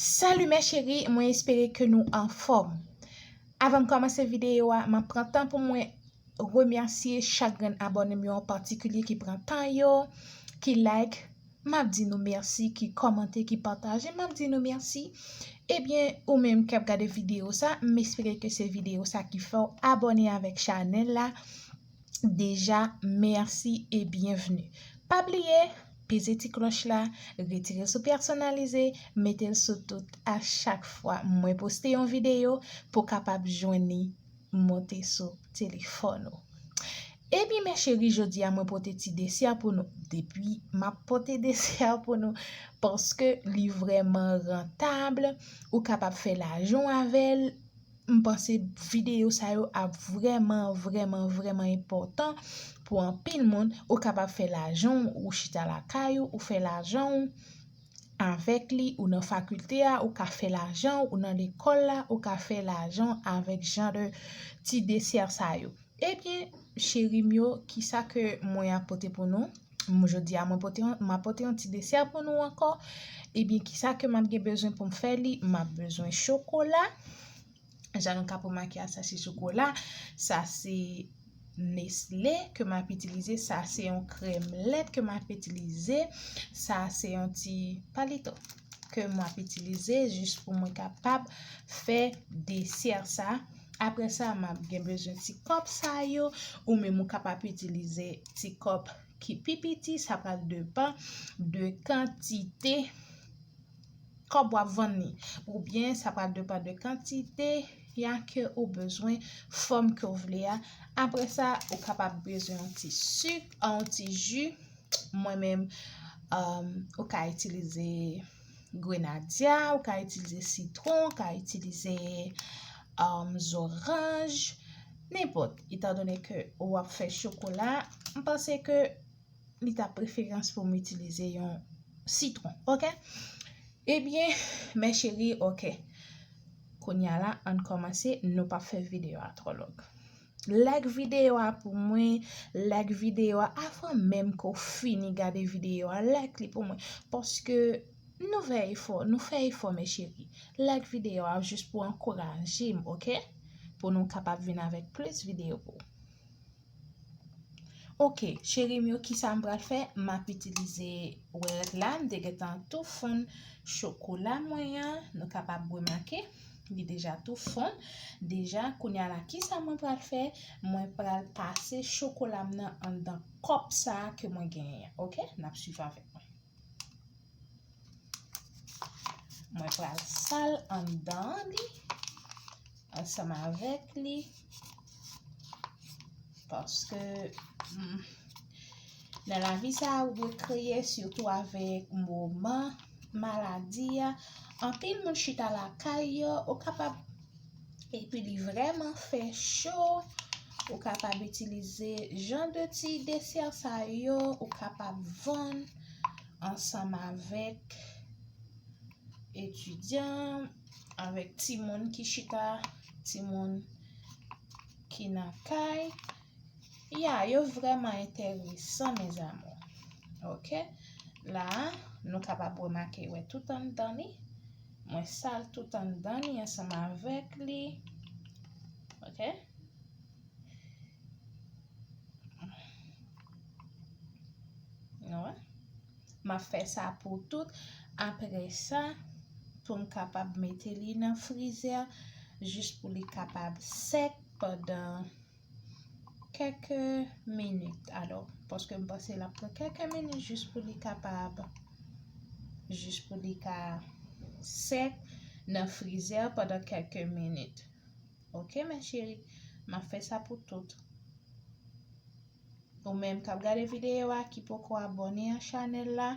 Salut mes chéris, mwen espere ke nou anfòm. Avan m kòmanse videyo a, m ap pran tan pou mwen remèsye chak grenn abòne m yo an patikilye ki pran tan yo, ki like, m ap di nou mèsi, ki kòmante, ki pataje, m ap di nou mèsi. Ebyen, ou menm k ap gade videyo sa, m espere ke se videyo sa ki fè w abòne avèk chanèl la. deja merci et bienvenue pa bliye peze ti kloch la retire sou personalize metel sou tout a chak fwa mwen poste yon video pou kapab jwenn li monte sou telefòn ou Ebyen mes chéri jodia mwen pote ti desè pou nou depi map pote desè pou nou paske li vrèman rentable ou kapab fè lajan avèl M panse videyo sa yo ap vrèman vrèman vrèman enpòtan pou anpil moun. Ou kapab fè lajan w, ou chita lakay ou, ou fè lajan w avèk li, ou nan fakilte a, ou ka fè lajan w, ou nan lekòl la, ou ka fè lajan w avèk jan de ti desè sa yo. Ebyen cheri m yo, kisa ke mwen ap pote pou nou? M jodi a mwen pote yon, ma pote yon ti desè pou nou ankò. Ebyen, ki sa ke m ap gen bezwen pou m fè li? M ap bezwen chokola. Jan nou kapab remake a, sa se chokola. Sa se Nestlé ke m ap itilize. Sa se yon krèm lèt ke m ap itilize. Sa se yon ti palito ke m ap itilize jis pou mwen kapab fè desè sa. Apre sa, m ap gen bezwen ti kòp sa yo. Ou menm ou kapab itilize ti kòp ki pi piti. Sa pral depan de kantite kòp w ap vann li. Ou byen sa pral depan de kantite ya ke ou bezwen, fòm ke ou vle a. Apre sa, ou kapab bezwen yon ti sik, yon ti ji. Mwen menm, ou ka itilize. Grenadya, ou ka itilize sitron, ou ka itilize um, zoranj, nenpòt. Etan donè ke ou ap fè chokola, m panse ke li ta preferans pou m itilize yon sitron, ok? Ebyen, mè cheri, ok. Konya la, an n kòmanse, nou pa fè videyo a twò long. Like video a pou mwen Like video a avan menm ke w fini gade video a Like li pou mwen paske nou fè efò nou fè efò mes cherie Like video a jis pou ankouraje m ok pou nou kapab vin avèk plis video pou Ok cherie m yo kisa m pral fè m ap itilize wè rèd la m te gentan tou fonn chokola mwen an nou kapab remake. Li deja tou fon deja kounye a la kisa mwen pral fè mwen pral pase chokola m nan anndan kòp sa ke mwen genyen an ok nap swiv avèk mwen mwen pral sal anndan li ansanm avèk li paske Nan lavi sa a ou dwe kreye sitou avèk moman maladi a, anpil moun chita lakay yo, ou kapab epi li vrèman fè cho, ou kapab itilize jan de ti desè sa yo, ou kapab vann ansanm avèk etidyan, avèk timoun ki chita, timoun ki nan kay. Ya yo vreman enteresan mes amours ok la nou kapab remake wè tout anndan li mwen sal tout anndan li ansanm avèk li ok nou wè ma fè sa pou tout apre sa pou m kapab mete li nan frizè jis pou li kapab sèk pandan kèke minit alò paske m panse l ap pran kèke minit jis pou li kapab jis pou li ka sèk nan frizè pandan kèke minit ok ma cheri m ap fè sa pou tout ou menm k ap gade videyo a ki poko abone a chanèl la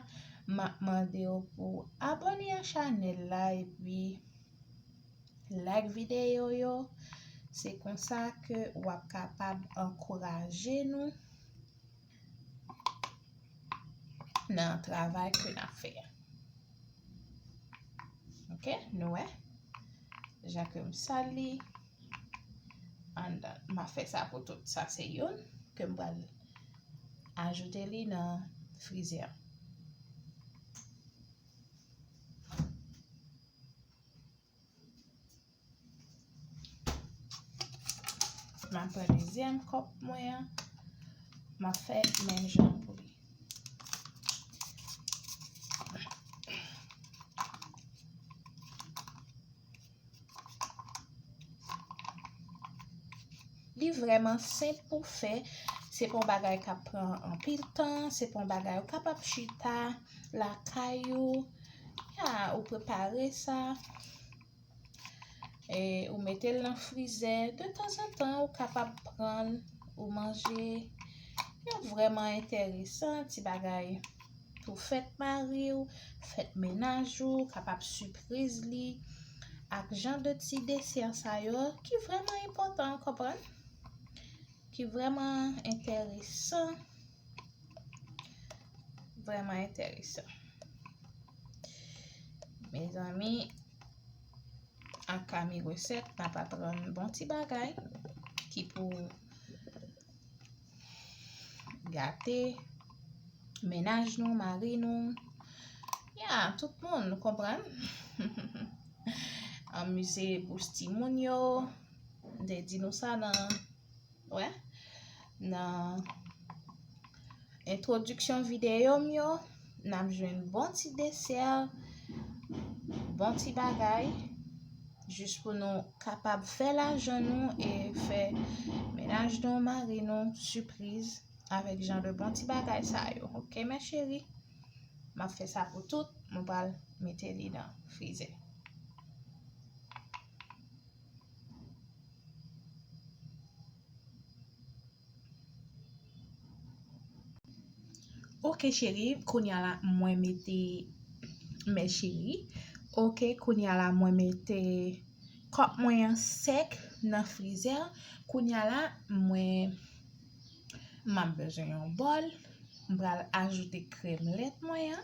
m ap mande w pou abone a chanèl la epi Like videyo yo, se konsa ke wap kapab ankouraje nou nan travay ke nap fè a. Ok, nou wè? Jan ke m sal li, andan, ma fè sa pou tout. Sa se youn ke m pral ajoute li nan frizè. M ap pran dezyèm kòp mwen an, m ap fè menm jan pou li. Li vreman senp pou fè, se pa yon bagay k ap pran anpil tan, se pa yon bagay ou kapab chita lakay ou. Haa ou prepare sa e ou mete l nan frizè de tanzantan ou kapab pran l ou manje yo vreman enteresan ti bagay pou fèt mari ou fèt menaj ou kapab sipriz li ak jan de ti desè sa yo ki vreman enpotan ou konprann ki vreman enteresan Vreman enteresan. Mezanmi, ak kami reset, nan pa pran bon ti bagay, ki pou gate, menaj nou, mari nou, ya, tout moun, nou kompran? Anmize bouch ti moun yo, de di nou sa nan, Wè, nan entwodiksyon videyo m yo, n ap jwenn bon ti desè, bon ti bagay, jis pou nou kapab fè lajan nou e fè menaj nou, mari nou, sipriz avèk jan de bon ti bagay sa yo. Ok mè cheri? M ap fè sa pou tout, m pral mete li nan frize. Ok cheri kounye a la mwen mete mè cheri Ok kounye a la mwen mete kòk mwen an sèk nan frizè Kounye a la mwen m ap bezwen yon bòl m pral ajoute krèm lèt mwen an.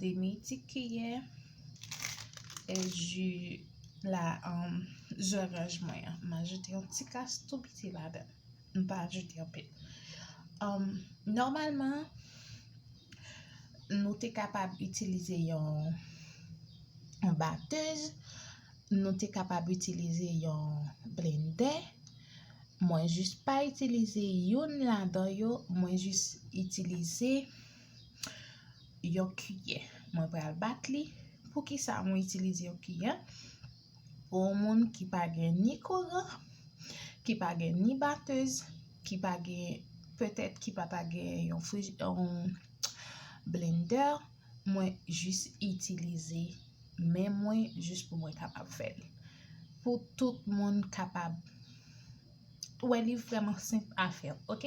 Demi ti kiyè e ju la zoranj mwen an. M ajoute yon ti kas tou piti ladan. M pa ajoute anpil. Nòmalman, nou te kapab itilize yon batèz, nou te kapab itilize yon blendè. Mwen jis pa itilize youn ladan yo, mwen jis itilize. yon kiyè. Mwen pral bat li. Poukisa mwen itilize yon kiyè? Pou yon moun ki pa gen ni kouran, ki pa gen ni batez, ki pa gen, petèt ki pa ta gen yon frij, yon blender, mwen jis itilize men mwen jis pou mwen kapab fè li. Pou tout moun kapab. Ou wè li vreman senp a fè ok.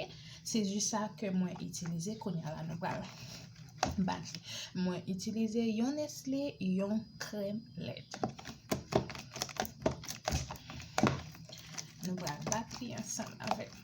Se ji sa ke mwen itilize kounye a la nou pral bati. Mwen itilize yon nesle, yon krèm lèt. Nou pral bati ansanm avèk mwen.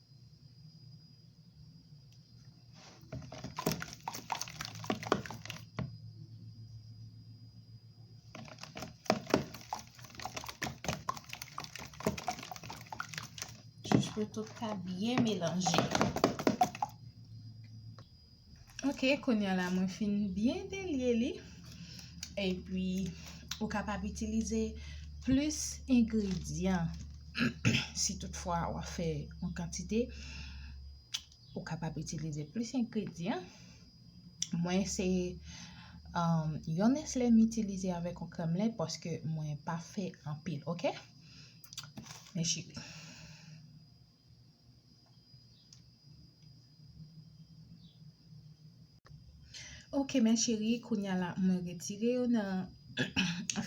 Jis pou tout ka byen melanje. Ok kounya la mwen fin byen delye li epi ou kapab itilize plis engredyan si tout fwa wap fè yon kantite ou kapab itilize plis engredyan mwen se um, yon nesle m itilize avèk yon krèm lèt paske mwen pa fè anpil ok men cheri. Ok men cheri kounya la mwen retire yo nan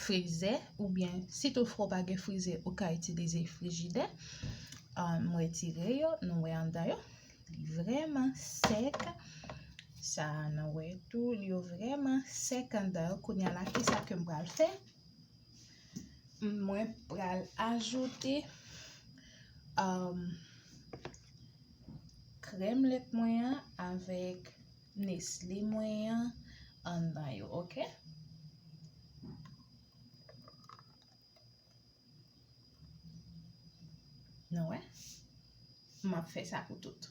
frize oubyen si tou fwa ou pa gen frize ou ka itilize frijidè. Mwen retire yo, nou wè andan yo. Li vreman sèk. Sa nou wè tou li yo vreman sèk andan yo. Kounya la kisa ke m pral fè? Mwen pral ajoute krèm lèt mwen an avèk nesle mwen an anndan yo, ok? Nou wè? M ap fè sa pou tout.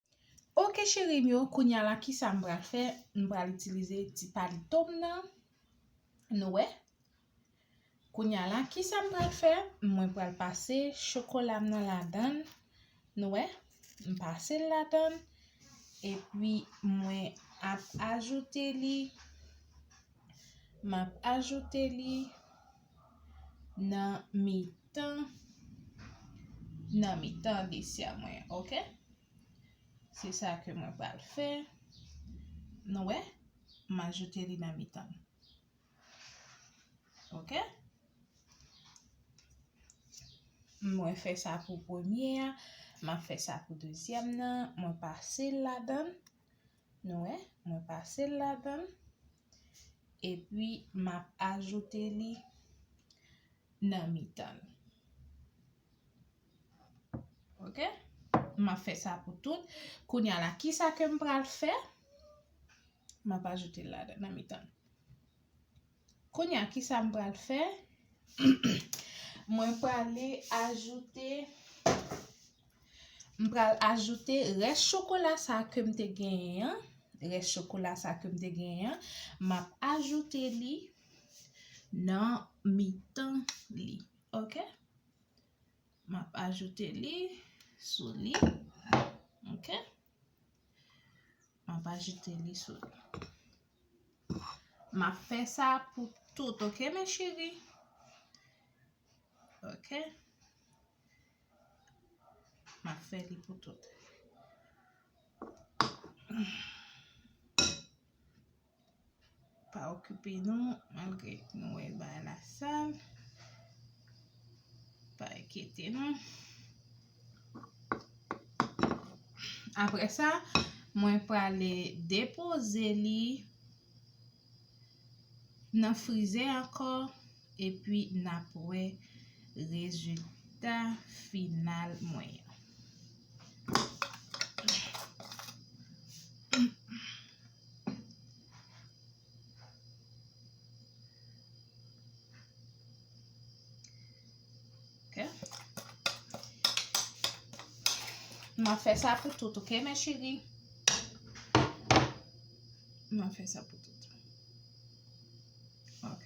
Ok cherim yo kounya la kisa m pral fè m pral itilize ti palitom nan nou wè kounya la kisa m pral fè mwen pral pase chokolam nan ladann nou wè m pasel ladann epi mwen ap ajoute li map ajoute li. nan mitan nan mitan desya mwen an ok se sa ke mwen pral fè nou wè m ajoute li nan mitan ok mwen fè sa pou premye a m ap fè sa pou dezyèm nan mwen pase l ladan l nou wè mwen pase l ladan l epi m ap ajoute li nan mitan l ok m ap fè sa pou tout kounya la kisa ke m pral fè m ap ajoute l ladan nan mitan l kounya kisa m pral fè mwen prale ajoute M pral ajoute rès chokola sa kem te genyen an, rès chokola sa kem te genyen an, map ajoute li nan mitan li ok. Map ajoute li sou li ok. Map ajoute li sou li. Map fè sa pou tout ok mes chéri. Ok. M ap fè li pou tout. Pa okipe nou, malgre nou wè l bay la sal. Pa enkete nou. Apre sa, mwen prale depoze li nan frize ankò epi nap wè rezilta final mwen an. Mwen fè sa pou tout, ok, mè cheri? Mwen fè sa pou tout. Ok.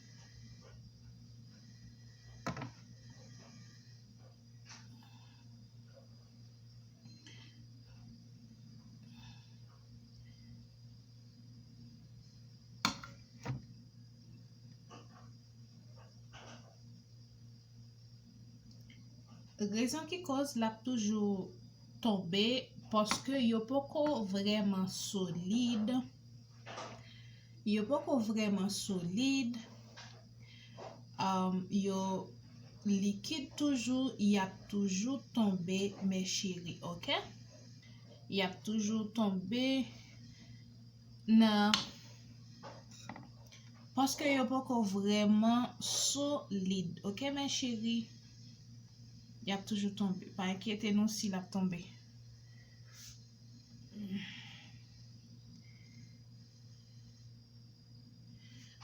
Rezon ki koz l ap toujou tonbe paske yo poko vreman solid. Yo poko vrèman solid, yo likid toujou, y ap toujou tonbe mè cheri ok. Y ap toujou tonbe nan paske yo poko vrèman solid ok mè cheri. Y ap toujou tonbe, pa enkyete nou si l ap tonbe.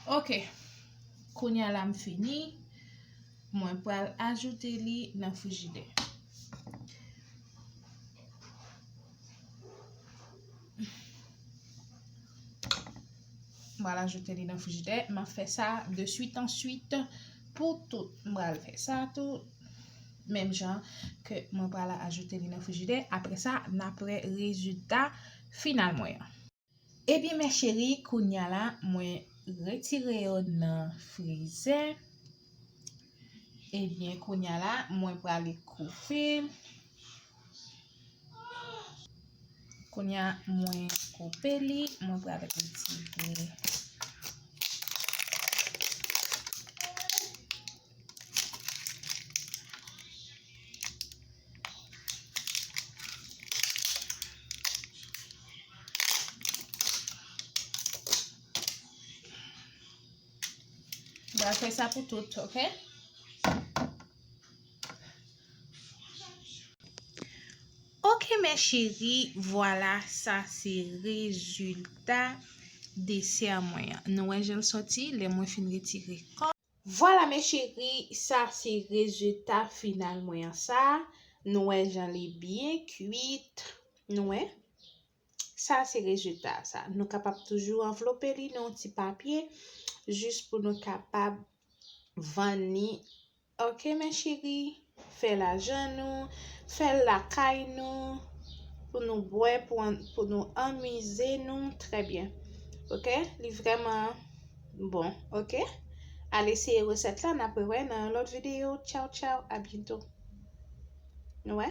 Ok, kounya la m fini, mwen pral ajoute li nan frijidè. Mwen ajoute li nan frijidè, m ap fè sa de suit an suit pou tout. M pral fè sa tou, menm jan ke mwen pral ajoute li nan frijidè, apre sa, n ap wè rezilta final mwen an. Ebyen mes cherie kounya la mwen retire yo nan frizè ebyen kounya la mwen prale koupe kounya mwen koupe li mwen prale retire Mwen fè sa pou tout, ok? Ok, mè cheri, vwala sa se rezultat desè mwen. Nou wè jèl soti, lè mwen fin retire kò. Vwala mes cheris sa se rezita final mwen an sa nou wè jan li byen kuit nou wè sa se rezita sa nou kapab toujou anvlope li nan yon ti papye jis pou nou kapab vann li ok mes cheris. fè lajan nou, fè l lakay nou, pou nou bwè, pou nou anmize nou trè byen ok, li vrèman bon ok, al eseye resèt la napre wè nan yon lòt videyo tchaw tchaw a byento nou wè.